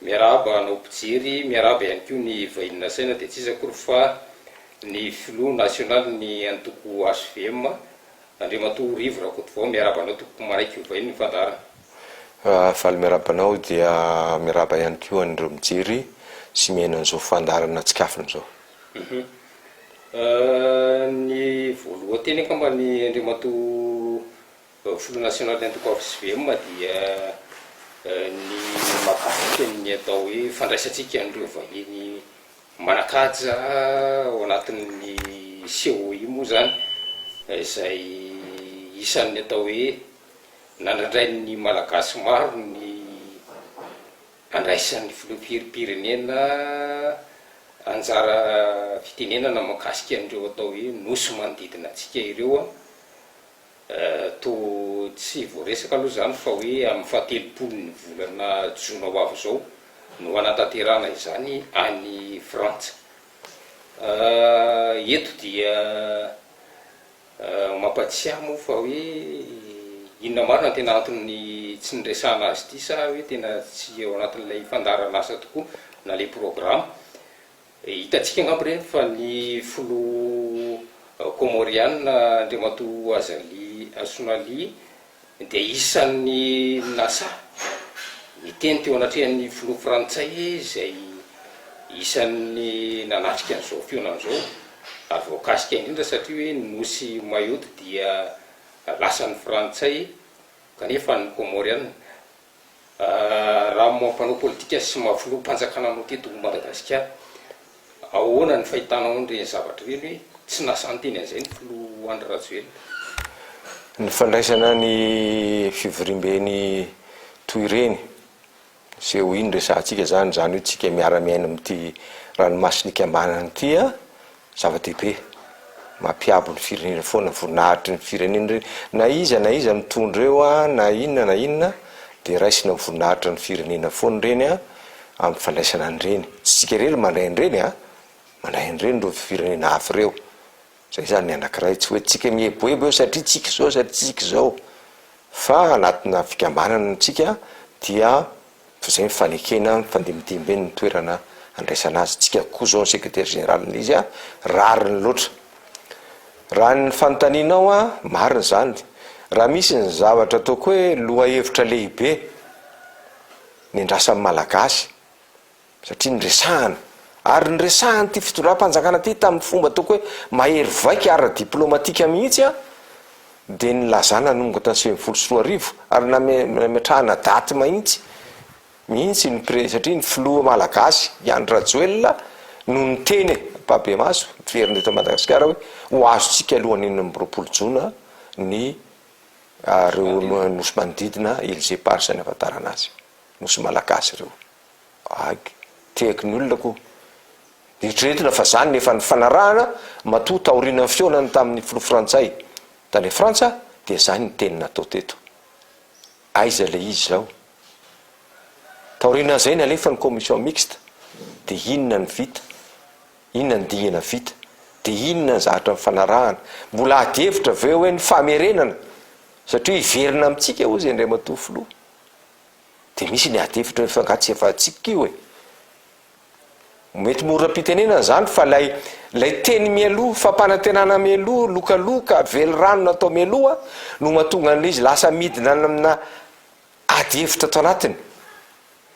Miarahaba anao mpijery, miarahaba ihany koa ny vahiny nasaina dia tsy iza akory fa ny filoha nasionaly ny antoko HVM, Andriamatoa Rivo Rakotovao, miarahaba anao tompoko manaiky ho vahinin'ny fandaharana. Faly miarahaba anao dia miarahaba ihany koa an'ireo mijery sy mihaino an'izao fandaharana tsikafona izao. Ny voalohan-teny angambany Andriamatoa Filoha nasionaly antokoavisy VM dia ny mahakasika ny atao hoe fandraisantsika an'ireo vahiny manan-kaja ao anatin'ny COI moa izany izay isan'ny atao hoe nandrandrain'ny Malagasy maro ny handraisan'ny Filoham-pirenena anjara fitenenana mahakasika an'ireo atao hoe Nosy manodidina antsika ireo. Toa tsy voaresaka aloha izany fa hoe amin'ny fahatelopolon'ny volana jona ho avy izao no hanatanterahana izany any Frantsa. Eto dia mampatsiahy moa fa hoe inona marina no tena anton'ny tsy niresahana azy ity sa hoe tena tsy ao anatin'ilay fandaharan'asa tokoa na ilay programa Hitantsika angamba ireny fa ny filoha Kômôriana Andriamatoa Azali Assoumali dia isan'ny nasahy niteny teo anatrehan'ny filoha frantsay izay isan'ny nanatrika an'izao fihaonana izao ary voakasika indrindra satria hoe ny nosy Mayotte dia lasan'ny frantsay kanefa an'ny Kômôriana Raha moa mpanao politika sy moa filoha mpanjakana no teto Madagasikara, ahoana ny fahitanao an'ireny zavatra ireny hoe tsy nasa niteny an'izay ny filoha Andry Rajoelina? Ny fandraisana ny fivoriamben'ny toy ireny, izay ho iny resahantsika izany, izany hoe tsika miara-miaina amin'ity ranomasin'Ikambana ity, Zava-dehibe. Mampiabo ny firenena foana ny voninahitry ny firenena ireny. Na iza na iza mitondra eo, na inona na inona, dia raisina ho voninahitra ny firenena foana ireny amin'ny fandraisana an'ireny. Tsy isika irery no mandray an'ireny an! Mandray an'ireny ireo firenena hafa ireo. Izay izany ny anankiray. Tsy hoe tsika mieboebo eo satria tsika izao, satria tsika izao. Fa anatina fikambanana isika dia Toy izay ny fanekena mifandimidimby eny ny toerana andraisana azy. Tsika koa izao ny sekretera jeneralin'ny izy rariny loatra. Raha ny fanontanianao aho, marina izany. Raha misy ny zavatra ataoko hoe lohahevitra lehibe nendrasan'ny Malagasy, satria niresahana ary niresahan'ity fitondram-panjakana ity tamin'ny fomba ataoko hoe mahery vaika ara-diplomatika mihitsy an, dia nilazana hanomboka tamin'ny sivy ambin'ny folo sy roa arivo ary nametrahana daty mahitsy mihitsy ny pre, satria ny filoha malagasy i Andry Rajoelina no niteny e, Babemaso, miverina eto Madagasikara hoe ho azontsika alohan'ny enina amby roapolo jona ny ireo nosy manodidina Îles Éparses ny ahafantarana azy, nosy malagasy ireo. Age, tehaky ny olona koa. Eritreretina fa izany no efa nifanarahana matoa taorianan'ny fihaonany tamin'ny filoha frantsay tany Frantsa dia izany ny teny natao teto. Aiza ilay izy izao? Taorianan'izay nalefa ny commission mixte dia inona no vita? Inona ny dingana vita? Dia inona ny zavatra nifanarahana? Mbola ady hevitra ve hoe ny famerenana satria hiverina amintsika hozy Andriamatoa Filoha? Dia misy ny adihevitra hoe fa angaha tsy efa antsika io e? Mety mora am-pitenenana izany fa ilay ilay teny mialoha, fampanantenana mialoha, lokaloka, velirano natao mialoha no mahatonga an'ilay izy lasa midina any aminà adihevitra ato anatiny.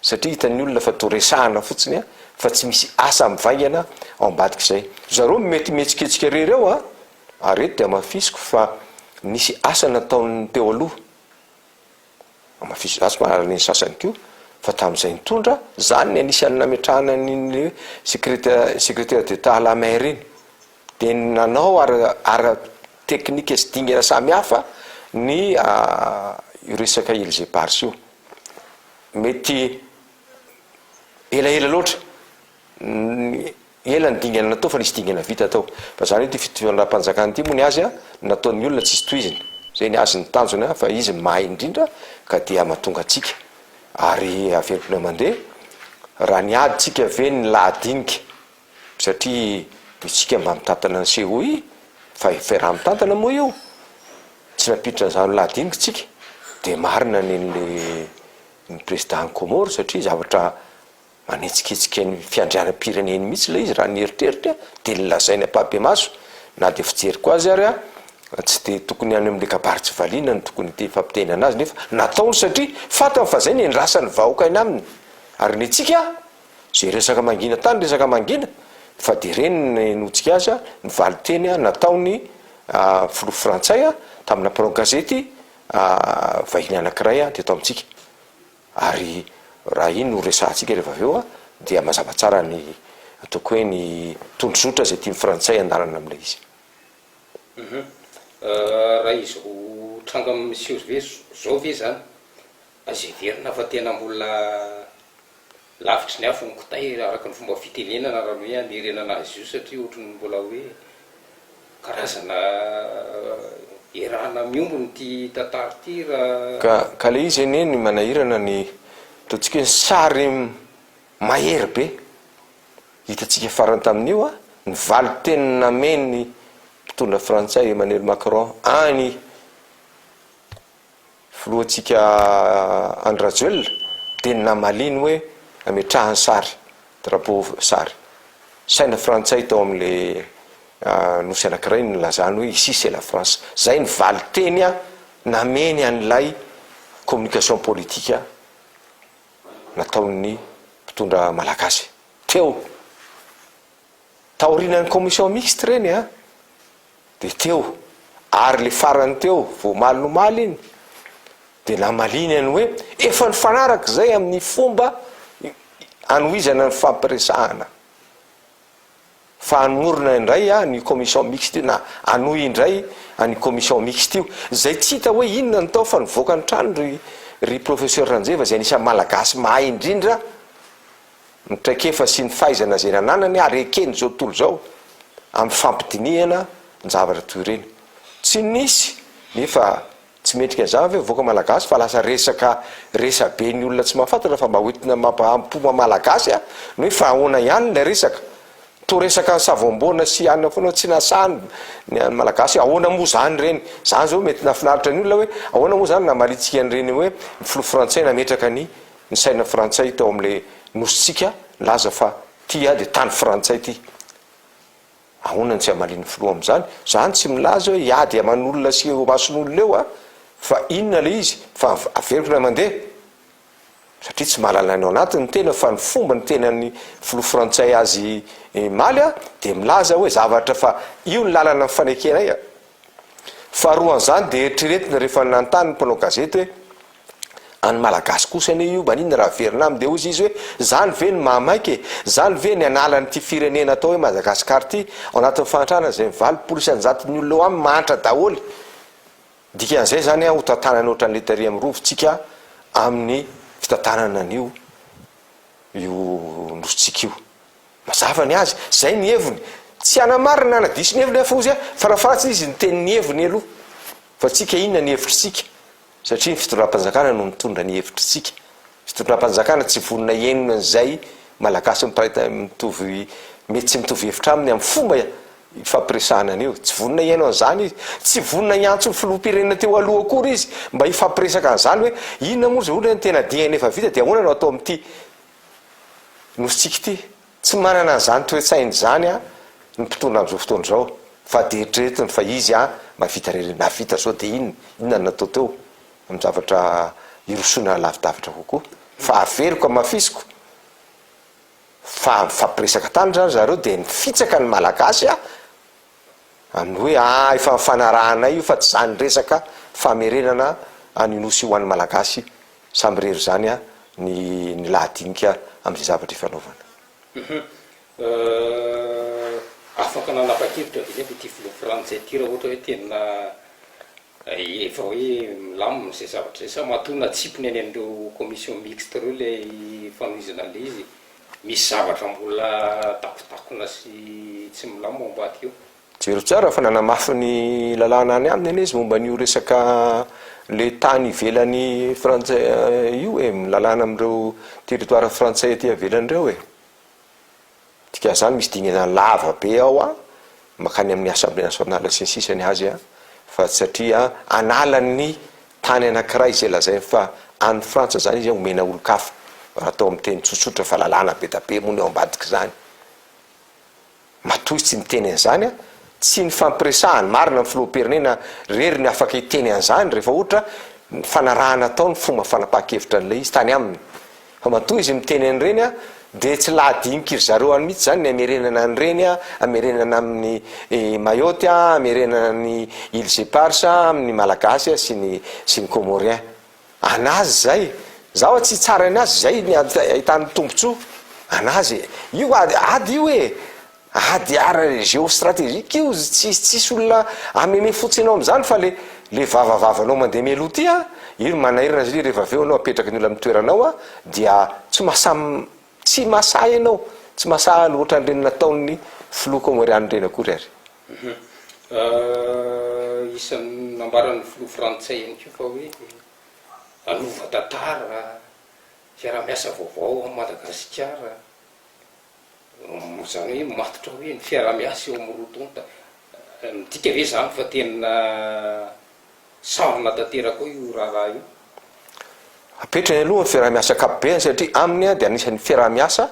Satria hitan'ny olona fa toa resahana fotsiny a, fa tsy misy asa mivaingana ao ambadik'izay. Ry zareo mety mihetsiketsika irery ao a, ary eto dia hamafisiko fa nisy asa nataon'ny teo aloha. Amafisizasy fa alain'ny sasany koa fa tamin'izay nitondra, izany ny anisan'ny nametrahana ny ny hoe secreta- secretaire d'Etat à la mer iny, dia ny nanao ara ara teknika sy dingana samihafa ny io resaka Îles Éparses io. Mety elaela loatra ny. Ela ny dingana natao fa nisy dingana vita tao. Fa zany ity fitondram-panjakana ity moa ny azy nataon'ny olona tsisy tohiziny. Zay ny azy ny tanjony an fa izy mahay indrindra ka dia mahatonga antsika ary aventina mandeha raha ny ady tsika ve ny lahadinika satria itsika mba mitantana ny COI fa fiaraha-mitantana moa io tsy nampiditra an'izany ho lahadinika itsika dia marina ny ny président ny Comores satria zavatra Manetsiketsika ny fiandrianam-pireneny mihitsy ilay izy raha ny eritreritra dia ny lazainy ampahibemaso na dia fijeriko azy ary aho tsy dia tokony any amin'ilay kabary tsy valiana no tokony hifampitenana azy nefa nataony satria fantany fa izay ny andrasan'ny vahoaka aina aminy ary ny antsika izay resaka mangina tany resaka mangina fa dia ireny no nahenoantsika azy a ny valinteny a nataony filoha frantsay a tamina mpanao gazety vahiny anankiray a teto amintsika. Ary raha iny no resahantsika rehefa avy eo dia mazava tsara ny ataoko hoe ny tondrozotra izay tian'ny frantsay handalana amin'ilay izy. Raha izao tranga miseho izao ve izany, azo heverina fa tena mbola lavitry ny afo ny kitay araka ny fomba fitenenana raha ny hoe hamerenana azy io satria ohatry ny mbola hoe. Karazana erana miombona ity tantara ity raha. Ka ka le izy anie ny manahirana ny ataontsika hoe sary mahery be hitantsika farany tamin'io a, ny valin-teny namen'ny mpitondra frantsay Emmanuel Macron any filohantsika Andry Rajoelina dia namaliany hoe ametrahany sary, drapeau, sary saina frantsay tao amin'ilay nosy anankiray nilazany hoe ici c'est la France. Izay ny valinteny nameny an'ilay communication politique nataon'ny mpitondra malagasy teo. Taorianan'ny commission mixte ireny an! Dia teo, ary le farany teo, vao omaly nomaly iny, dia namaliany an'i hoe, efa nifanaraka izay amin'ny fomba anohizana ny fampiresahana, fa hanomorona indray an io commission mixte io, na hanohy indray an'io commission mixte io, izay tsy hita hoe inona no tao fa nivoaka ny trano ry ry professeur Ranjeva izay anisan'ny malagasy mahay indrindra, ny traikefa sy ny fahaizana izay nananany ary eken'izao tontolo izao amin'ny fampidinihana ny zavatra toy ireny. Tsy nisy, nefa tsy mendrika an'izany ve vahoaka malagasy fa lasa resaka resabe ny olona tsy mahafantatra fa mba hoentina mampaham-po maha-malagasy aho ny hoe fa ahoana ihany ilay resaka? Toa resaka an'i Savoamboana sy anona foana tsy nahasahy ny an'ny malagasy ahoana moa izany ireny? Izany izao mety nahafinaritra ny olona hoe ahoana moa izany namaritsika an'ireny hoe ny filoha frantsay nametraka ny ny saina frantsay tao amin'ilay nosintsika nilaza fa tia dia tany frantsay ity. Ahoana no tsy hamalian'ny filoha amin'izany? Zany tsy milaza hoe hiady aman'olona sy eo amason'olona eo aho fa inona ilay izy fa averiko ilay mandeha. Satria tsy mahalala ny ao anatiny ny tena fa ny fomba niteny an'ny filoha frantsay azy maly aho dia milaza hoe zavatra fa io ny lalana nifanekenay. Faharoa an'izany dia eritreretina rehefa nanontany ny mpanao gazety hoe. Any malagasy kosa anie io maninona raha averina aminy dia ozy izy hoe zany ve no mahamaika e? zany ve ny anala an'ity firenena atao hoe Madagascar ity ao anatin'ny fahantrana izay valopolo sy anjaton'ny olona ao aminy mahantra daholo dikan'izay zany an hotantanany ohatran'ny letterie amin'ny rovintsika amin'ny fitantanana an'io io nosintsika io mazava ny azy zay ny heviny tsy hanamarina na diso ny heviny afozy a farafahatsiny izy ny tenin'ny heviny aloha fa tsika inona ny hevitritsika Satria ny fitondram-panjakana no mitondra ny hevitritsika. Fitondram-panjakana tsy vonona hihaino an'izay Malagasy miparitaka tsy mitovy mety tsy mitovy hevitra aminy amin'ny fomba ifampiresahana an'io. Tsy vonona hihaino an'izany izy. Tsy vonona hiantso ny filoham-pirenena teo aloha akory izy mba hifampiresaka an'izany hoe inona moa izao ilay tena diany efa vita dia ahoana no atao amin'ity Nosintsika ity. Tsy manana an'izany toe-tsaina izany an ny mpitondra amin'izao fotoana izao fa dia eritreretiny fa izy an mahavita irery nahavita zao dia inona inona no natao teo amin'ny zavatra hirosoana lavidavitra kokoa fa averiko amafisiko fa mifampiresaka tany zany zareo dia mifitsaka ny malagasy an Amin'ny hoe ah efa nifanarahanay io fa tsy izany ny resaka famerenana an'io nosy io ho an'ny Malagasy samy irery izany ny ny lahadinika amin'izay zavatra ifanaovana. Afaka nanapa-kevitra ve ianao ity filoha frantsay ity raha ohatra hoe tena efa hoe milamina izay zavatra izay sa matoa natsipiny any amin'ireo commission mixte ireo ilay fanohizana an'ilay izy e? Misy zavatra mbola takotakona sy tsy milamina ao ambadika ao. Jero tsara fa nanamafy ny lalàna any aminy anie izy momba an'io resaka le tany ivelan'ny frantsay io e, milalàna amin'ireo territoire frantsay aty avelany ireo e. Dikan'izany misy dingana lava be ao an, makany amin'ny Assemblée Nationale sy ny sisa ny azy an, fa satria hanala ny tany anankiray izay lazainy fa an'ny Frantsa izany izy an, homena olon-kafa, raha atao amin'ny teny tsotsotra fa lalàna be dia be moa ny ao ambadik'izany. Matoa izy tsy miteny an'izany an, tsy nifampiresahany marina ny Filoham-pirenena rery ny afaka hiteny an'izany rehefa ohatra ny fanarahana atao ny fomba fanapahan-kevitra an'ilay izy tany aminy Fa matoa izy miteny an'ireny dia tsy lahadinik'iry zareo any mihitsy izany ny hamerenana an'ireny, hamerenana amin'i Mayotte, hamerenana an'i Îles Éparses, amin'ny Malagasy sy ny sy ny Comorien. An'azy izay. Izaho aho tsy hitsara ny azy, izay ny ahitany tombontsoa. An'azy. Io ady io e! Ady ara geo strategique io tsy tsisy olona ameme fotsy enao amzany fa le le vavavavanao mandeha mialoha ty a io no manahirana zli refa aveo anao apetraka ny olona am toeranao a dia tsy masam tsy masahy enao tsy masahy any otran reny nataon ny filoha komorian reny akory ary. Ahh isan nambaran ny filoha frantsay ihany ko fa hoe hanova tantara fiarahamiasa vaovao am madagasikara Moa izany hoe matotra hoe ny fiaraha-miasa eo amin'ny roa tonta, midika ve izany fa tena sarona tanteraka ao io raharaha io? Apetrany aloha ny fiaraha-miasa ankapobeny satria aminy dia anisan'ny fiaraha-miasa,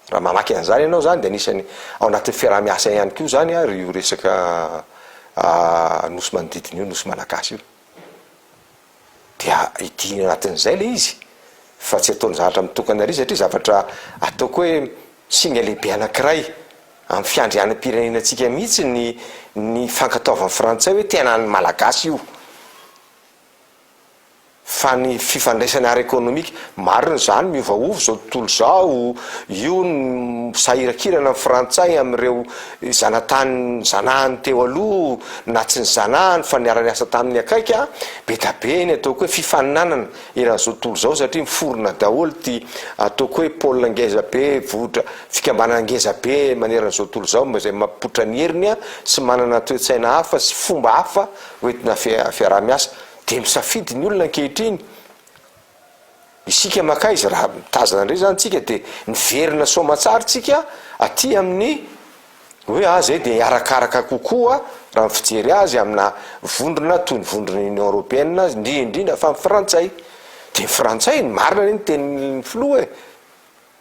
raha mamaky an'izany ianao izany dia anisan'ny ao anatin'ny fiaraha-miasa ihany koa izany ary io resaka Nosy manodidina io, Nosy Malagasy io. dia hidina anatin'izay le izy fa tsy ataony zavatra mitokana ery satria zavatra ataoko hoe singa lehibe anankiray amin'ny fiandrianam-pirenenantsika mihitsy ny ny fankatoavan'ny frantsay hoe tena ny malagasy io fa ny fifandraisana ara ekonomika marina izany miovaova izao tontolo izao io ny misahirakirana ny frantsay amin'ireo Ny zanatany zanahany teo aloha na tsy nizanahany fa niara-niasa taminy akaiky a, be da be ny ataoko hoe fifaninanana eran'izao tontolo izao satria miforona daholo ity ataoko hoe pôle ngeza be vohitra fikambanana ngeza be maneran'izao tontolo izao mba izay mampipoitra ny heriny a sy manana toe-tsaina hafa sy fomba hafa hoentina fiaraha-miasa dia misafidy ny olona ankehitriny Isika mankaiza raha mitazana indray zany tsika de miverina soamatsary tsika aty amin'ny hoe ah zay de arakaraka kokoa raha ny fijery azy amina vondrona toy ny vondrona union européenne ndrindra fa ny frantsay de ny frantsay ny marina anie ny tenin'ny filoha e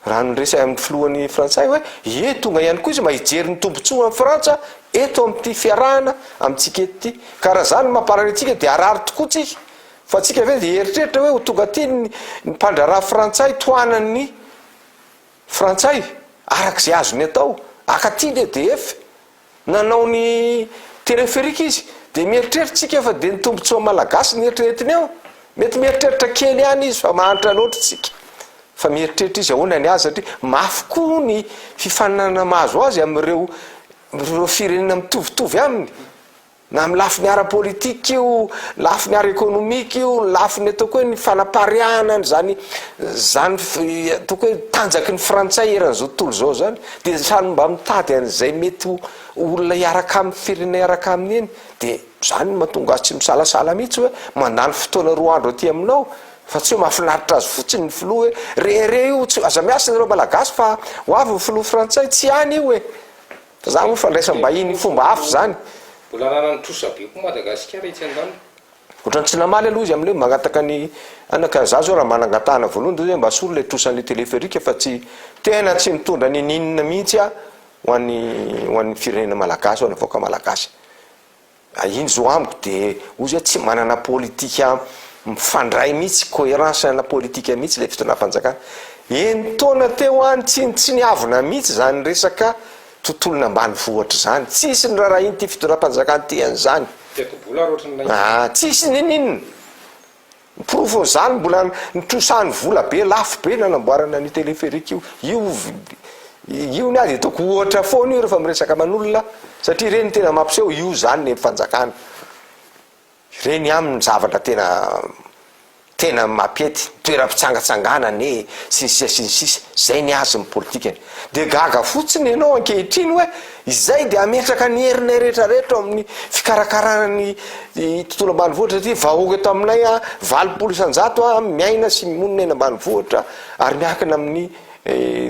Raha niresy ahy amin'ny filohany frantsay hoe, ie tonga ihany koa izy mba hijery ny tombontsoa an'i Frantsa eto amin'ity fiarahana amintsika eto ity. Ka raha izany no mamparary antsika dia harary tokoa tsika. Fa tsika ve dia hieritreritra hoe ho tonga aty ny mpandraharaha frantsay tohanan'ny frantsay araka izay azony atao, haka aty ny EDF? Nanao ny téléphérique izy dia mieritreritsika fa dia ny tombotsoa malagasy no eritreretiny eo? Mety mieritreritra kely ihany izy fa mahantra loatra isika. Fa mieritreritra izy ahoana ny azy satria mafy koa ny fifaninanana mahazo azy amin'ireo firenena mitovitovy aminy. Na amin'ny lafiny ara-politika io, lafiny ara-ekonomika io, ny lafiny ataoko hoe ny fanapariahana an'izany zany ataoko hoe tanjaky ny frantsay eran'izao tontolo izao zany dia samy mba mitady an'izay mety ho olona hiaraka amin'ny firenena hiaraka aminy iny dia zany mahatonga azy tsy misalasala mihitsy hoe mandany fotoana roa andro aty aminao fa tsy hoe mahafinaritra azy fotsiny ny filoha hoe re re io tsy aza miasa nareo malagasy fa ho avy ny filoha frantsay tsy any io e Za moa fandraisam-bahiny fomba hafa zany. Mbola ananany trosa be koa Madagasikara etsy andaniny. Otrany tsy namaly aloha izy amle hoe magnataka ny ana ka za zao raha manangatahana voalohany de hoe mba asolo le trosa anle téléphérique fa tsy tena tsy mitondra ninn mihitsy ah ho an'ny ho an'ny firenena malagasy ho an'ny vahoaka malagasy. Ary iny zao amiko de ozy oe tsy manana politika mifandray mihitsy, coherence ana politika mihitsy le fitondram-panjakana. Enin-taona teo any tsy tsy niavona mihitsy zany resaka tontolon' ambanivohitra zany. Tsisy nirarahin'ity fitondram-panjakana ity an'izany. Tetibola ary ohatran'ilay izy. Aa tsisy ninininona. Porofon'izany mbola nitrosahan'ny vola be lafo be nanamboarana an'io téléphérique io. Io io ny azy ataoko ohatra foana io rehefa miresaka aman'olona satria ireny tena mampiseho io izany ny fanjakana. Ireny aminy zavatra tena tena mampety, toeram-pitsangatsanganana e, sy ny sisa sy ny sisa. Izay ny azy ny politikany. Dia gaga fotsiny ianao ankehitriny hoe Izay dia hametraka ny herinay rehetra rehetra eo amin'ny fikarakarana ny tontolo ambanivohitra satria vahoaka eto aminay valopolo isan-jato miaina sy monina eny ambanivohitra ary miankina amin'ny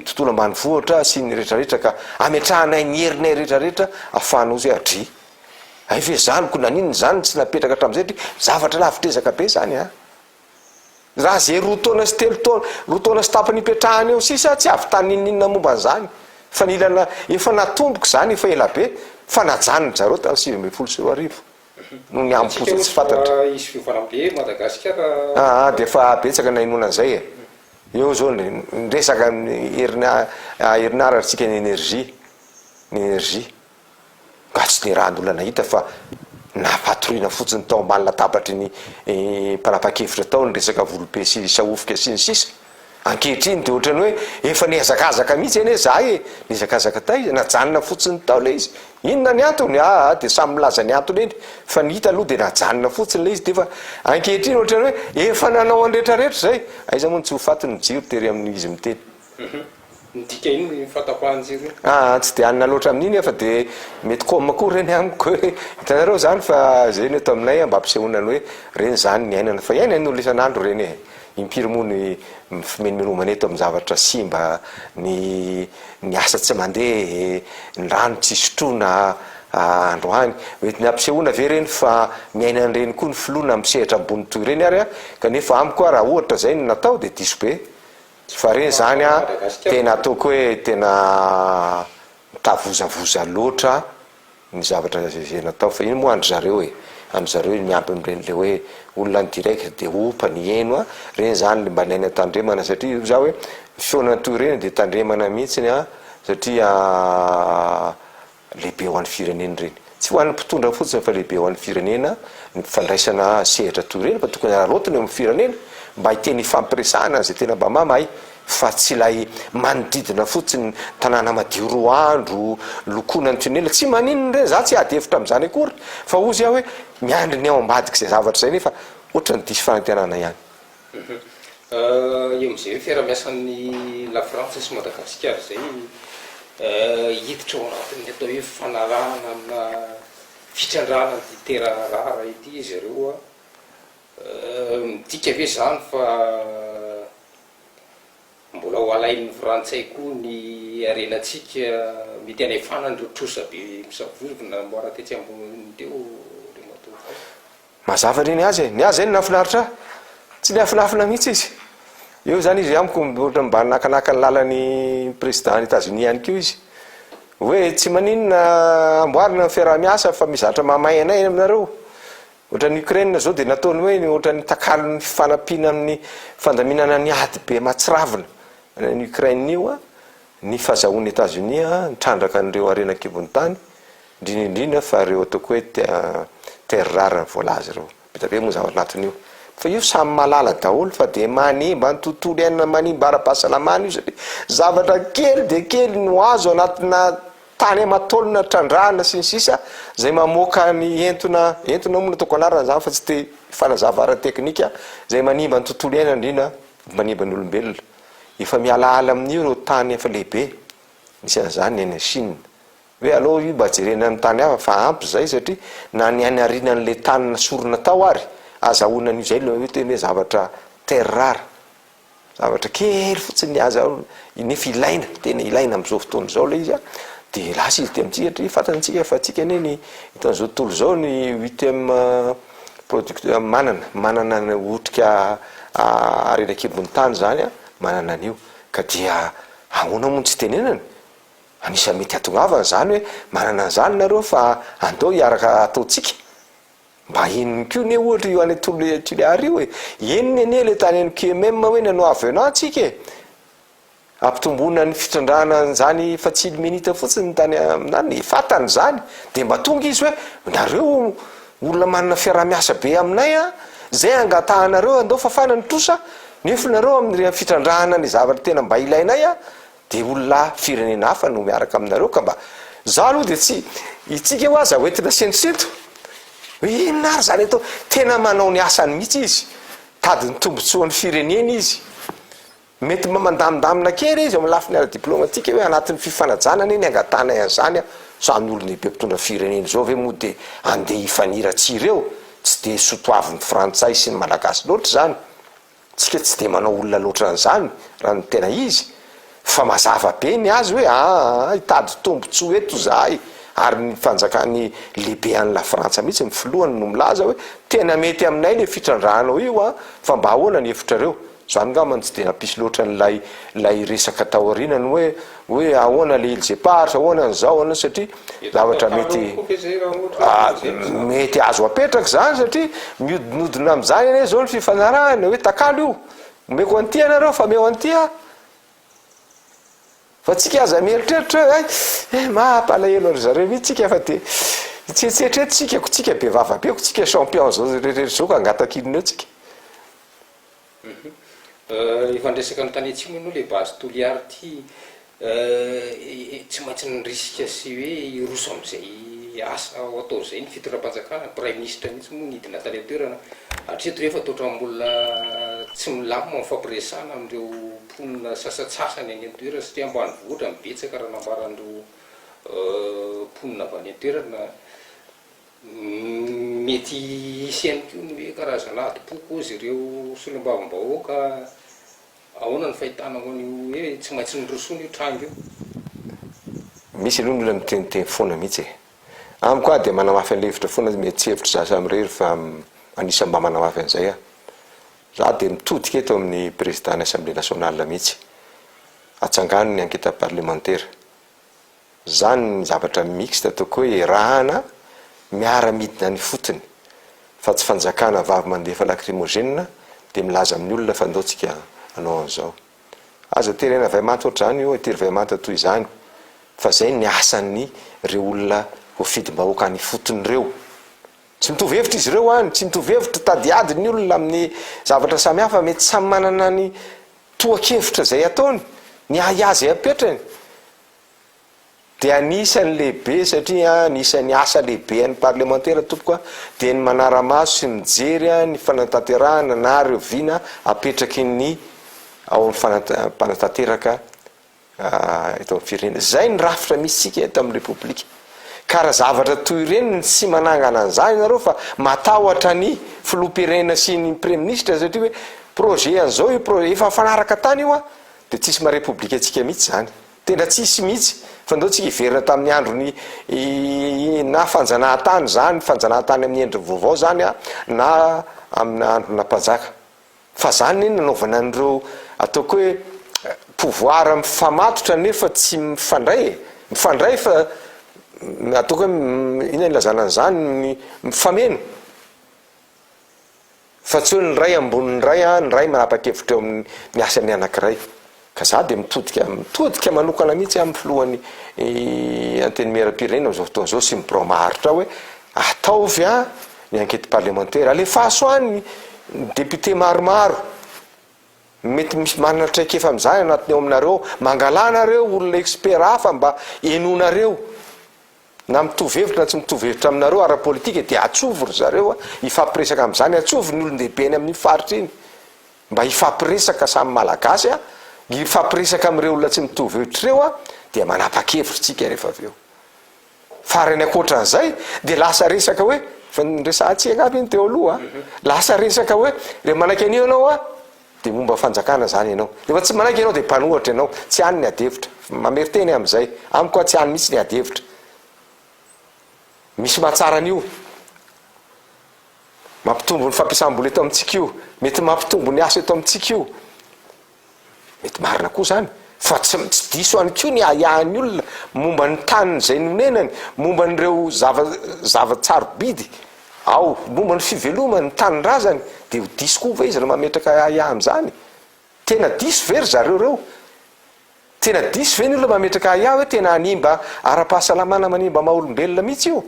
tontolo ambanivohitra sy ny rehetra rehetra ka ametrahanay ny herinay rehetra rehetra afahana ozy adry hay ve zany ko naninona zany tsy napetraka hatramin'izay dry zavatra lavitr'ezaka be zany a. Raha izay roa taona sy telo taona, roa taona sy tapany ipetrahany eo sisa, tsy hahavitany n'inon'inona momba an'izany. Fa nila na, efa natomboka izany efa ela be, fa najanony zareo tamin'ny sivy ambin'ny folo sy roa arivo, noho ny hambom-poza tsy fantatra. Raha hisy fiovana be eto Madagasikara. Aa, dia efa betsaka ny nahenoana an'izay e. Eo izao ny, ny resaka amin'ny herina, herinaratra antsika ny energie, ny energie. Mba tsy nirahan'olona nahita fa nampatoriana fotsiny tao ambany latabatry ny mpanapa-kevitra tao ny resaka volobe sy sahofika sy ny sisa. Ankehitriny dia ohatran'ny hoe efa nihazakazaka mihitsy anie izahay e! Nihazakazaka taiza? Najanona fotsiny tao ilay izy. Inona ny antony? Aa dia samy milaza ny antony eny fa ny hita aloha dia najanona fotsiny ilay izy dia efa ankehitriny ohatran'ny hoe efa nanao an'i retraretra izay. Aiza moa no tsy ho faty ny jiro tery amin'izy miteny. Midika inona iny fahatapahan-jiro iny? Aa tsy dia hanina loatra amin'iny aho fa dia mety com koa ireny amiko hoe hitanareo izany fa izay no eto aminay mba ampisehoana ny hoe ireny izany ny iainana fa iainan'ny olona isan'andro ireny e! impiry moa ny fimenomenomana eto amin'ny zavatra simba, ny ny asa tsy mandeha e, ny rano tsy sotroina androany, mety ny ampisehoana ve ireny fa miaina an'ireny koa ny filoha na amin'ny sehatra ambony toy ireny ary aho? kanefa amiko aho raha ohatra izay no natao dia diso be. Fa re zany a tena ataoko hoe tena mitavozavoza loatra ny zavatra vehena atao fa ino moa an-dry zareo e, an-dry zareo e miampy amin'ireny le hoe olona ny direct de opa ny heno a, reny zany le mba ilaina tandremana satria io za hoe ny feona toy ireny de tandremana mihitsiny a satria. Lehibe ho an'ny firenena ireny. Tsy ho an'ny mpitondra fotsiny fa lehibe ho an'ny firenena ny fandraisana sehatra toy ireny fa tokony hararaotina eo amin'ny firenena mba hiteny hifampiresahana an'izay tena mba mamahay fa tsy ilay manodidina fotsiny tanàna madio roa andro lokoina ny tunnel tsy maninona ireny za tsy hiady hevitra amin'izany akory fa ozy aho hoe miandry ny ao ambadik'izay zavatra izay nefa ohatrany diso fanantenana ihany Eo amin'izay hoe fiaraha-miasan'ny Lafrantsa sy Madagasikara izay hiditra ao anatin'ny atao hoe fanarahana amina fitrandrahana an'ity terrain rare ity izy ireo, midika ve izany fa mbola ho alain'ny Frantsay koa ny harenantsika? Mety hanefana an'ireo trosa be misavorovona namboara tetsy ambony teo ry matoa. Mazava re ny azy e, ny ahy zay no nahafinaritra ahy, tsy niafinafina mihitsy izy, eo zany izy amiko ohatra mba nakanaka ny lalan'i président any Etazonia any koa izy, hoe tsy maninona amboarina ny fiaraha-miasa fa mizatra mahamay anay any aminareo, ohatran'i Ukraine zao dia nataony hoe ohatran'ny takalon'ny fifanampiana amin'ny fandaminana ny ady be mahatsiravina any Ukraine io an, Ny fahazahoan'i Etazonia nitrandraka an'ireo harena an-kibon'ny tany, indrindra indrindra fa ireo ataoko hoe terres rares voalaza ireo. Be dia be moa zavatra anatin'io. Fa io samy mahalala daholo fa dia manimba ny tontolo iainana, manimba ara-pahasalamana io satria zavatra kely dia kely no azo anatina tany aman-taonina trandrahana sy ny sisa izay mamoaka ny entona, entona moa no ataoko anarana izany fa tsy te-fanazava ara-teknika, izay manimba ny tontolo iainana indrindra, manimba ny olombelona. Efa mialaala amin'io ireo tany efa lehibe, misy an'izany ny any Chine. Hoe aleo io mba jerena ny tany hafa fa ampy izay satria na ny any arinan'ilay tany nasorina tao ary azahoana an'io izay ilay teny hoe zavatra terre rare. Zavatra kely fotsiny aza nefa ilaina, tena ilaina amin'izao fotoana izao ilay izy dia lasa izy aty amintsika satria fantantsika fa antsika anie ny hitan'izao tontolo izao ny huitième Product manana manana ny otrika ary eny an-kibon'ny tany izany a, manana an'io ka dia ahoana moa no tsy tenenany? Anisan'ny mety hahatongavana izany hoe manana an'izany nareo fa andao hiaraka ataontsika mba henony koa anie ohatra io any Toliara io e, henony anie le tany any QMM hoe nanao avenant tsika e! Ampitomboina ny fitrandrahana an'izany fatsilo minitra fotsiny ny tany aminany, fantany izany, dia mba tonga izy hoe, nareo olona manana fiaraha-miasa be aminay a, izay angatahanareo andao fafana ny trosa, nefonareo amin'ireny fitrandrahana ny zavatra tena mba ilainay a, dia olona firenena hafa no miaraka aminareo ka mba, izaho aloha dia tsy, itsika ho aza hoentina sentosento, hoe inona ary izany atao, tena manao ny asany mihitsy izy, tady ny tombotsoan'ny firenena izy, Mety mba mandamindamina kely izy eo amin'ny lafiny ara-diplaomatika hoe anatin'ny fifanajana anie ny angatahanay an'izany a! Samy olona be mpitondra firenena izao ve moa dia andeha hifaniratsy ireo? Tsy dia sotoavin'ny frantsay sy ny malagasy loatra izany. Tsika tsy dia manao olona loatra an'izany raha ny tena izy. Fa mazava be ny azy hoe aa hitady tombotsoa eto izahay ary ny fanjakan'ny lehibe any la frantsa mihitsy ny filohany no milaza hoe tena mety aminay le fitrandrahanao io a! Fa mba ahoana ny hevitrareo? Za ngamba no tsy dia nampisy loatra an'ilay ilay resaka taoriana ny hoe hoe ahoana le ilzepars ahoana ny zao ahoana satria zavatra mety mety azo apetraka izany satria mihodinodina amin'izany anie izao ny fifanarahana hoe takalo io omeko an'ity ianareo fa meo an'ity a fa tsika aza mieritreritra hoe eh mampalahelo ry zareo mihitsy tsika fa dia tsetsetra etsika ko tsika be vava be ko tsika champion zao rehetra zao ka angatakinina eo tsika Efa niresaka ny tany atsimo ianao le base Toliary ty tsy maintsy ny risque sy hoe hiroso amizay asa ho atao zay ny fitondram-panjakana, praiminisitra mihitsy moa nidina tany an-toerana, hatreto rehefa toa otrambola tsy milamina ny fampiresana amin'ireo mponina sasatsasany any an-toerana satria ambanivohitra no betsaka raha nambaran'ireo mponina avy any an-toerana. Mety hisy ihany koa ny hoe karazana adim-poko hozy ireo solombavambahoaka. Ahoana ny fahitanao an'io hoe tsy maintsy norosoana io tranga io? Misy aloha ny olona miteniteny foana mihitsy e! Amiko aho dia manamafy an'ilay hevitra foana hoe mety tsy hevitr'izaho samirery fa anisan'ny mba manamafy an'izay aho. Izaho dia mitodika eto amin'ny Prezidàn'ny Assemblée Nationale mihitsy. Atsangano ny anketa parlemantera. Zany ny zavatra mixte toko hoe erahana miara midina any fotony fa tsy fanjakana vavy mandefa lacrymogene de milaza amin'ny olona fa ndao tsika anao anzao. Aza terena vay manta otrazany io atiry vay manta toy zany fa zay ny asan'ny reo olona voafidimbahoaka any fotony reo. Tsy mitovy hevitra izy reo any tsy mitovy hevitra tady ady ny olona amin'ny zavatra samy hafa mety samy manana ny toha kevitra zay ataony ny ahiahy zay apetrany dia anisany lehibe satria anisany asa lehibe an'ny parlemantera tompoko a dia ny manaramaso sy mijery a ny fanantanterahana na reo vina apetraky ny ao amin'ny fanampanantanteraka eto amin'ny firenena zay ny rafitra misy tsika eto amin'ny repoblika ka raha zavatra toy ireny ny tsy manangana an'izany ianareo fa matahotra ny filoham-pirenena sy ny praiministra satria hoe projet an'izao io projet efa fanaraka tany io a Dia tsisy maha repoblika antsika mihitsy izany. Tena tsisy mihitsy. Fanindreo antsika hiverina tamin'ny andron'ny na fanjanahantany izany, fanjanahantany amin'ny endriny vaovao izany an, na amina androna mpanjaka. Fa izany anie nanaovana an'ireo ataoko hoe pouvoir mifamatotra nefa tsy mifandray e. Mifandray fa ataoko hoe inona ilazana an'izany, mifameno. Fa tsy hoe ny iray ambony ny iray an, ny iray manapa-kevitra eo amin ny asa ny anankiray. Ka za dia mitodika mitodika manokana mihitsy amin ny filohan ny antenimieram-pirenena amin'izao fotoana izao sy ny birao maharitra hoe ataovy an ny enquete parlementaire, alefaso any ny député maromaro mety misy manana traikefa amin'izany anatiny ao aminareo, mangalà nareo olona expert hafa mba henonareo. Na mitovy hevitra na tsy mitovy hevitra aminareo ara-politika dia atsovy ry zareo hifampiresaka amin'izany, atsovy ny olon-dehibe eny amin'iny faritra iny mba hifampiresaka samy Malagasy a, hifampiresaka amin'ireo olona tsy mitovy hevitra ireo a, dia manapa-kevitra isika rehefa avy eo. Farany ankoatran'izay dia lasa resaka hoe, efa niresahantsika angamba iny teo aloha a, lasa resaka hoe, rehefa manaiky an'io ianao a, Dia momba fanjakana zany ianao. Rehefa tsy manaiky ianao dia mpanohatra ianao, tsy any ny ady hevitra. Mamerin-teny aho amin'izay. Amiko aho tsy any mihitsy ny ady hevitra. Misy mahatsara an'io. Mampitombo ny fampiasam-bola eto amintsika io. Mety mampitombo ny asa eto amintsika io. Mety marina koa zany. Fa tsy, tsy diso ihany koa ny ahiahin'ny olona momba ny taniny izay nonenany, momba an'ireo zava, zava-tsarobidy. Ao, momba ny fivelomany, ny tanindrazany, dia ho diso koa ve izy raha mametraka ahiahy amin'izany? Tena diso ve ry zareo ireo? Tena diso ve ny olona mametraka ahiahy hoe tena hanimba ara-pahasalamana, manimba maha-olombelona mihitsy io?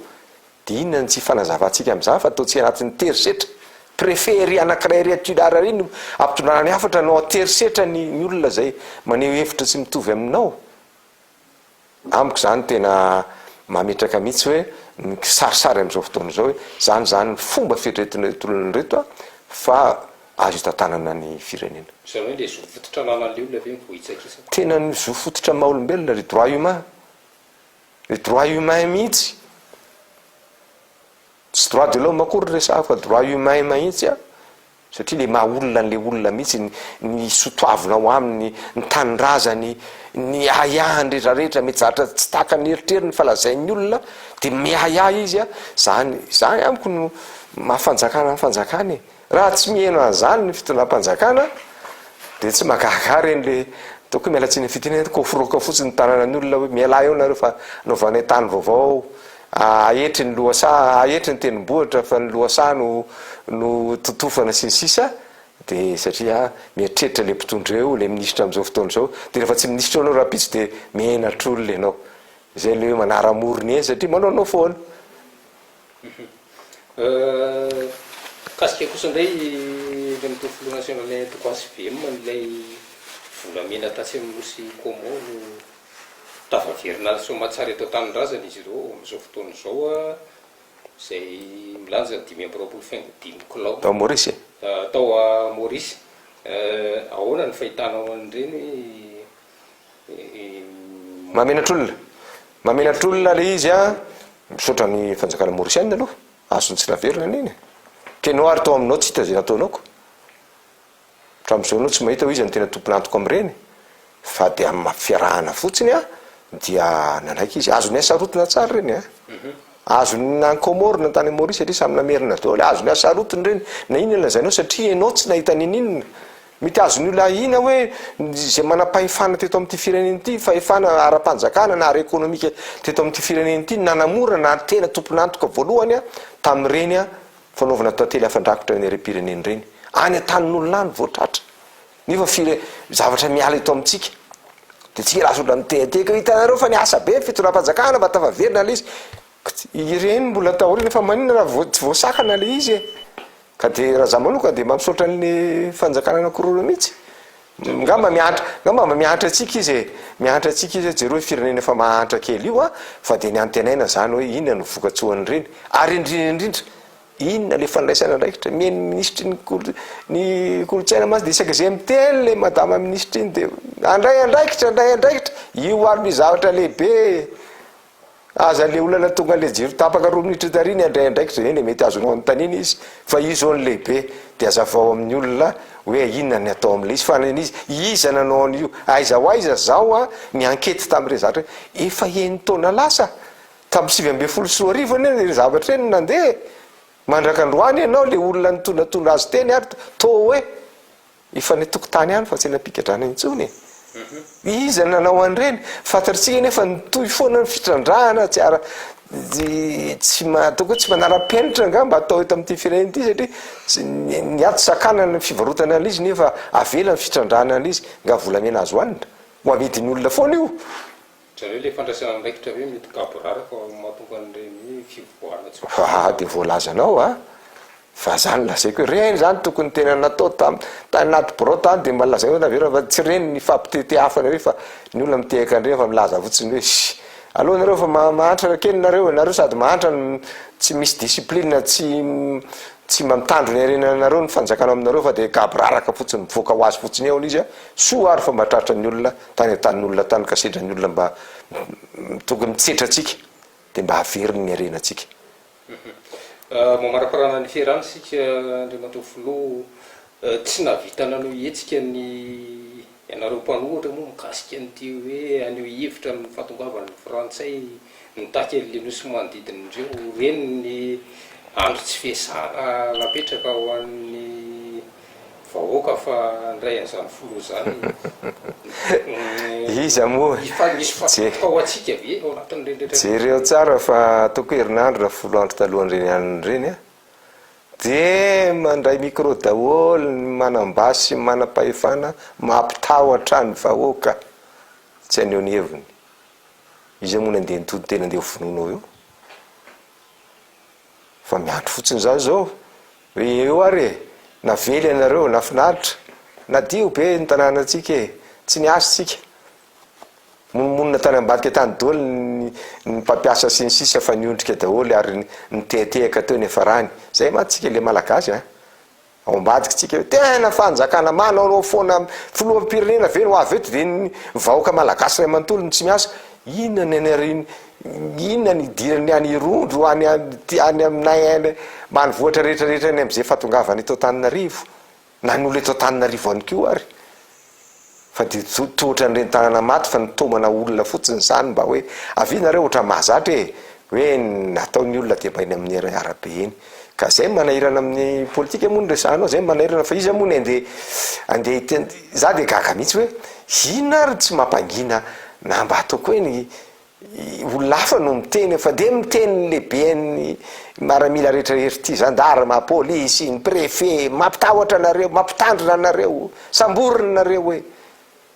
Dia inona no tsy ifanazavantsika amin'izany fa ataontsika anatin'ny terisetra? Préfet ery anankiray ery Toliara ery no ampitondrana ny hafatra no an-terisetra ny olona izay maneho hevitra tsy mitovy aminao. Amiko zany tena mametraka mihitsy hoe ny kisarisary amin'izao fotoana izao hoe zany izany ny fomba fieritreretina ireto olona ireto fa azo hitantanana ny firenena. Izany hoe ilay zo fototra ananan'leolona ve no voahitsakitsaka? Tena ny zo fototra ny maha olombelona ry droit humain, ry droit humain mihitsy. Tsy droit de l'homme akory ny resahako fa droit humain mahitsy an! Satria le maha olona an'le olona mihitsy ny sotoavina ao aminy, ny tanindrazany, ny ahiahiny rehetra rehetra mety zavatra tsy tahaka ny eritreriny fa lazain'ny olona dia miahiahy izy an! Zany, zany amiko no maha fanjakana ny fanjakana e! Raha tsy miheno an'izany ny fitondram-panjakana dia tsy mahagaga ahy ireny le tokony miala tsiny fitinana koforoka fotsiny tanana ny olona hoe mialà eo nareo fa novanay tany vaovao ahetry ny lohasaha ahetry ny tendrombohitra fa ny lohasaha no no totofana sy ny sisa dia satria mieritreritra le mpitondra eo le minisitra amin'izao fotoana izao dia rehefa tsy minisitra eo anao rapitso dia menatr'olona ianao izay le hoe manara-morona eny satria manaonao foana Mikasika kosa indray ilay mitoa filoha nasionalinay antoko HVM ilay volamena tatsy amin'ny nosy Como no tafaverina any Soamatsara eto an-tanindrazana izy ireo amin'izao fotoana izao izay milanja ny dimy amby roapolo faingo dimy kilao. Tao Maurice e? Tao Maurice. Ahoana ny fahitanao an'ireny hoe Mahamenatra olona. Mahamenatra olona le izy a. Misaotra ny fanjakana mauricienne aloha. Azony tsy naverina anie iny e. Keno ary tao aminao tsy hita ze nataonao ko. Hatramin'izao anao tsy mahita hoe iza no tena tompon'antoka amin'ireny fa de amin'ny maha fiarahana fotsiny a dia nanaiky izy. Azony hasarotiny tsara ireny a. Azony na any Comores na tany Maurice satria samy namerina daholo. Azony hasarotiny ireny na inona lazainao satria ianao tsy nahita ninininona. Mety azon'ny olona ahiana hoe izay manam-pahefana teto amin'ity firenena ity, fahefana ara-panjakana na ara-ekonomika teto amin'ity firenena ity no nanamora na tena tompon'antoka voalohany tamin'ireny fanaovana tantely afa-drakotra ny harem-pirenena ireny. Any an-tanin'olona any vao tratra. Nefa fire- zavatra miala eto amintsika. Dia tsy hilaza olona mitehatehaka hoe hitanareo fa niasa be ny fitondram-panjakana mba tafaverina ilay izy. Ireny mbola taoriana fa maninona raha vao- tsy voasakana ilay izy e? Ka dia raha za manoka dia mba misaotra an'ny fanjakana anakiroa mihitsy. Ngamba mihantra, ngamba mba mihantra antsika izy e. Mihantra antsika izy hoe jereo io firenena efa mahantra kely io a, fa dia ny antenaina izany hoe inona no vokatsoan'ireny. Ary indrindra indrindra, inona ilay fandraisana andraikitra? Miha ny minisitry ny kolo- ny kolontsaina mantsy dia isaky izay miteny ilay madama minisitra iny dia handray andraikitra, handray andraikitra, io ary no zavatra lehibe e. Aza le olana tonga le jiro tapaka roa minitra tary ny handray andraikitra eny e mety azonao anontaniana izy fa io zao ny lehibe de azavao amin'ny olona hoe inona ny atao amle izy fa le izy iza nanao an'io aiza ho aiza zaho a ni ankety tam'ireny zavatra reny efa eny taona lasa tamin'ny sivy ambin'ny folo sy roa arivo anie le zavatra reny nandeha e mandrak'androany ianao le olona nitonatona azy teny ary toa hoe Efa any an-tokotany any fa tsy eny am-pigadrana intsony e. Iza nanao an'ireny? Fantatr'isika anefa nitohy foana ny fitrandrahana tsy ara tsy atao hoe tsy manara-penitra angamba atao eto amin'ity firenena ity satria ny ato sakana ny fivarotana an'izy nefa avela ny fitrandrahana an'izy nga volamena azo hanina ho amidin'olona foana io Jereo le fandraisana andraikitra ve mety gaborara fa mahatonga an'ireny fivoahana tsy ho voafetra. Hahaha de voalazanao a! Fa za no lazaiko hoe reny zany tokony tena natao tam tany anaty birao tany de mba lazainao naverina fa tsy reny ny fampitete afo anareo fa ny olona mitehaka an'ireny fa milaza fotsiny hoe ssy aleo anareo fa ma- mahantra kely nareo nareo sady mahantra no tsy misy discipline tsy tsy mba mitandro ny harena anareo ny fanjakana aminareo fa de gaboraraka fotsiny mivoaka ho azy fotsiny eo ny izy a soa ary fa mba tratran'ny olona Tany an-tanin'olona tany ka sedran'ny olona mba tonga mitsetra antsika dia mba haveriny ny harenantsika. Mamaraparana ny fiarany isika Andriamatoa Filoha, tsy nahavita nanao hetsika ny ianareo mpanohitra moa mikasika an'ity hoe haneho hevitra amin'ny fahatongavan'ny frantsay mitaky an'ilay nosy manodidina indreo ireny ny andro tsy fiasana napetraka ho an'ny vahoaka fa ndray anzany filoha zany iza moa efa misy fahafaham-po ao antsika ve ao anatin'ireny rehetra ireny? Jereo tsara fa ataoko herinandro na folo andro talohan'ireny anona ireny a, de mandray micro daholo ny manam-basy sy ny manam-pahefana mampitahotra ny vahoaka tsy haneho ny heviny, iza moa no andeha nitody tena andeha hovonoina ao eo? Fa miandry fotsiny zany zao. Ry eo ary e! Navela ianareo, nafinaritra, nadio be ny tanànantsika e! Tsy niasa isika, monomonona tany ambadika tany doly ny ny mpampiasa sy ny sisa fa niondrika daholo ary nitehatehaka teo ny hiafarany. Zay mantsy tsika le Malagasy a! Ao ambadiky tsika eo, tena fanjakana manao anao foana, filoham-pirenena ve no avy eto de ny vahoaka Malagasy ray manontolo no tsy miasa? Inona ny anariny Inona ny idiran'ny any Irondro any any aminay any ambanivohitra rehetra rehetra any amin'izay fahatongavany eto Antananarivo na ny olona eto Antananarivo ihany koa ary fa dia tso- toa ohatran'ny reni-tanana maty fa nitaomana olona fotsiny izany mba hoe avia nareo ohatran'ny mahazatra e! hoe ny atao ny olona dia mba eny amin'ny ara- arabe eny ka izay no manahirana amin'ny politika moa no resahanao izay no manahirana fa iza moa ny andeha andeha hiten- za dia gaga mihitsy hoe inona ary no tsy mampangina na mba ataoko hoe ny olona hafa no miteny fa de miteny ny lehiben'ny maramila rehetra rehetra ty zandarma polisy ny prefe mampitahotra anareo mampitandrina anareo samborina nareo hoe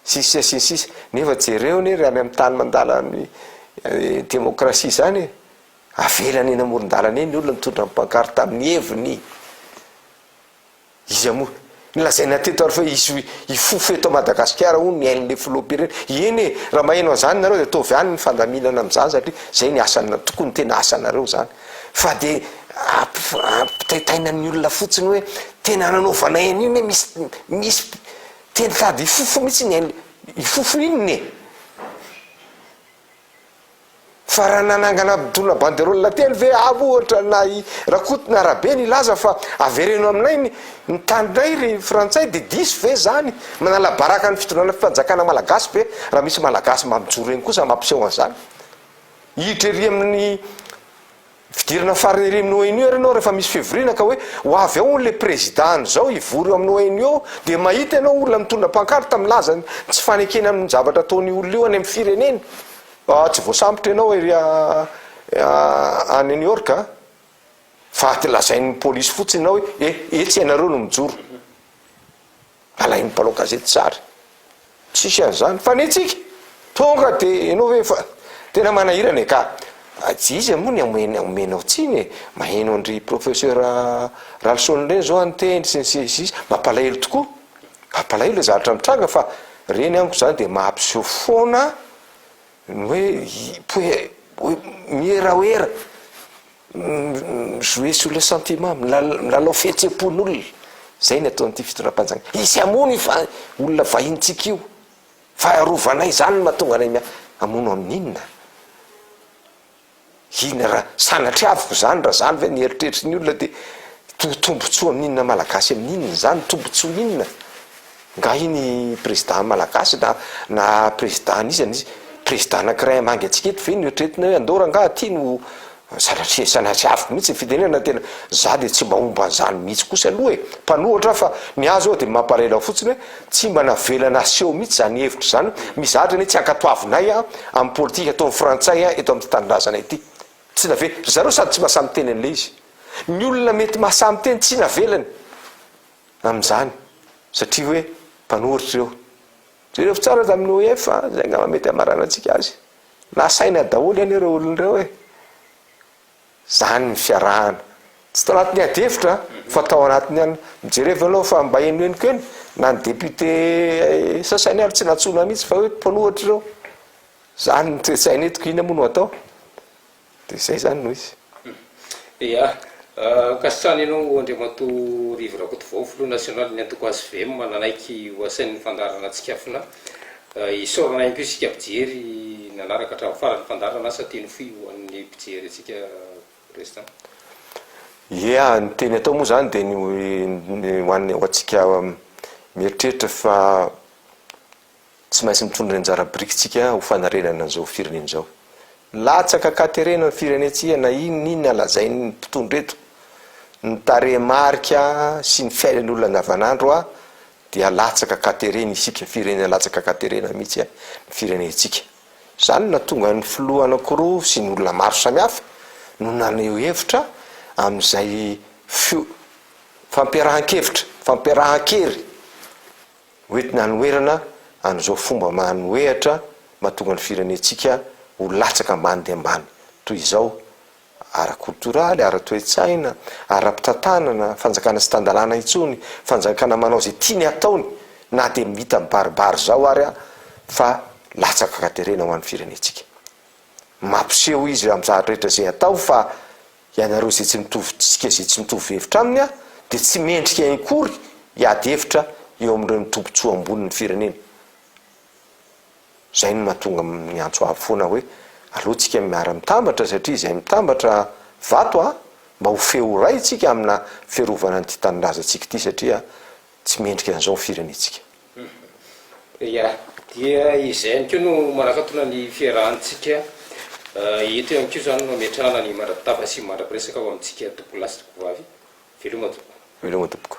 sisy sisy sisy nefa jereo ne ry any amin'ny tany mandala ny eh, demokrasia zany e avelany eny amoron-dalana eny ny olona mitondra ny pankarte amin'ny heviny Iza moa? Nolazaina teto ary fa hisy hifofo eto Madagasikara hono ny ain'le filoham-pirenena. Eny e, raha maheno an'zany nareo de ataovy any ny fandaminana amin'zany satria zay ny asana, tokony tena asanareo zany. Fa de ampitaitaina ny olona fotsiny hoe tena nanaovanay an'io ne misy misy te nitady hifofo mitsy ny ain'le, hifofo inona e? Fa raha nanangana mpitondra banderole telo ve avy ohatra na i Rakoto na Rabe nilaza fa avereno aminay ny ny taninay ry frantsay dia diso ve izany? Manala baraka ny fitondrana fanjakana malagasy ve raha misy malagasy mba mijoro eny kosa mampiseho an'izany? Hiditra ery amin'ny Fidirana farany ery amin'ny ONU ary ianao rehefa misy fivoriana ka hoe ho avy ao hono le prezida andro zao hivory eo amin'ny ONU eo dia mahita ianao olona mitondra pankarta milaza ny tsy fanekeny amin'ny zavatra ataon'io olona io any amin'ny fireneny. Ah tsy voasambotra ianao ery a New York a. Fa lazain'ny polisy fotsiny ianao hoe eh etsy ianareo no mijoro. Alain'ny mpanao gazety tsara. Tsisy an'izany fa ny antsika tonga de enao ve fa tena manahirana e ka. Tsy izy moa ny amena omenao tsiny e, maheno an-dry professeur Ralison ireny zao ny teny sy ny sisa sy ny sisa, mampalahelo tokoa. Mampalahelo le zavatra mitranga fa reny amiko zany de mahapiseho foana ny hoe hoe hoe miheraoera. mi-jouer sur le sentiment, milalao fihetsem-pon'olona, zay ny ataon'ity fitondram-panjakana, hisy hamono io fa olona vahinintsika io, fa arovanay zany no mahatonga anay miady, hamono amin'inona? Inona raha sanatria avy zany raha zany ve ny eritreritry ny olona de to- tombotsoa amin'inona malagasy amin'inona zany, tombotsoa inona? Ngahy ny président malagasy na na président anizany izy président anakiray hamangy antsika eto ve no eritreretina hoe andao rangaha ty no sanatria sanatria avoko mihitsy ny fitenenana tena za de tsy mba homba anzany mihitsy kosa aloha e mpanohatra aho fa ny ahy zao de mamparela fotsiny hoe tsy mba navelana aseho mihitsy zany hevitra zany mizatra anie tsy ankatoavinay an am politika ataony frantsay an eto amty tanindrazana ity tsy nave ry zareo sady tsy masamiteny anle izy ny olona mety masamiteny tsy navelany amin'izany satria hoe mpanoritra ireo. Jereo tsara aza amin'ny OIF a, zay angamba mety hamaranantsika azy. Nasaina daholo anie ireo olona ireo e! Zany ny fiarahana. Tsy tao anatin'ny ady hevitra fa tao anatin'ny alina. Mijereo ve anao fa mba henohenoko eny na ny député sasany ary tsy nantsoina mihitsy fa hoe mpanoratra ireo. Zany ny toe-tsaina eto k'inona moa no atao? Dia izay izany no izy. Ia. Ankasitrahana ianao Andriamatoa Rivo Rakotovao, Filoha Nasionalin'ny Antoko HVM nanaiky ho asain'ny fandaharana Tsikafona. Isaorana ihany koa isika mpijery nanaraka hatramin'ny faran'ny fandaharana. Asa teny fohy ho an'ny mpijery antsika Président. Ia. Ny teny atao moa izany dia ny ho an'ny ho antsika mieritreritra fa. Tsy maintsy mitondra ny anjara birikintsika ho fanarenana an'izao firenena izao. Latsaka an-katerena ny firenentsika na inona na inona lazain'ny mpitondra eto. Ny tarehimarika sy ny fiainan'olona andavanandro dia latsaka an-katerena isika, firenena latsaka an-katerena mihitsy ny firenentsika. Izany no nahatonga ny filoha anankiroa sy ny olona maro samihafa no naneho hevitra amin'izay fampiarahan-kevitra, fampiarahan-kery. Hoentina hanoherana an'izao fomba manohehatra mahatonga ny firenentsika ho latsaka ambany dia ambany toy izao ara-koltoraly, ara-toe-tsaina, ara-pitantanana, fanjakana tsy tan-dalàna intsony, fanjakana manao izay tiany ataony na dia mita mibaribary izao ary fa latsaka ka terena ho an'ny firenentsika. Mampiseho izy amin'izany rehetra izay atao fa Ianareo izay tsy mitovy dika izay tsy mitovy hevitra aminy dia tsy mendrika inkory hiady hevitra eo amin'ireny tombotsoa ambonin'ny firenena. Izay no mahatonga miantso avo foana hoe aleo tsika miara mitambatra satria izay mitambatra vato a mba ho feo iray tsika amina fiarovana an'ity tanindrazantsika ity satria tsy mendrika an'izao ny firenentsika. Ia, dia izay ihany koa no manakatona ny fiarahantsika eto ihany koa izany no ametrahana ny mandra-pitava sy mandra-piresaka ao amintsika tompokolahy sy tompokovavy. Veloma tompoko. Veloma tompoko.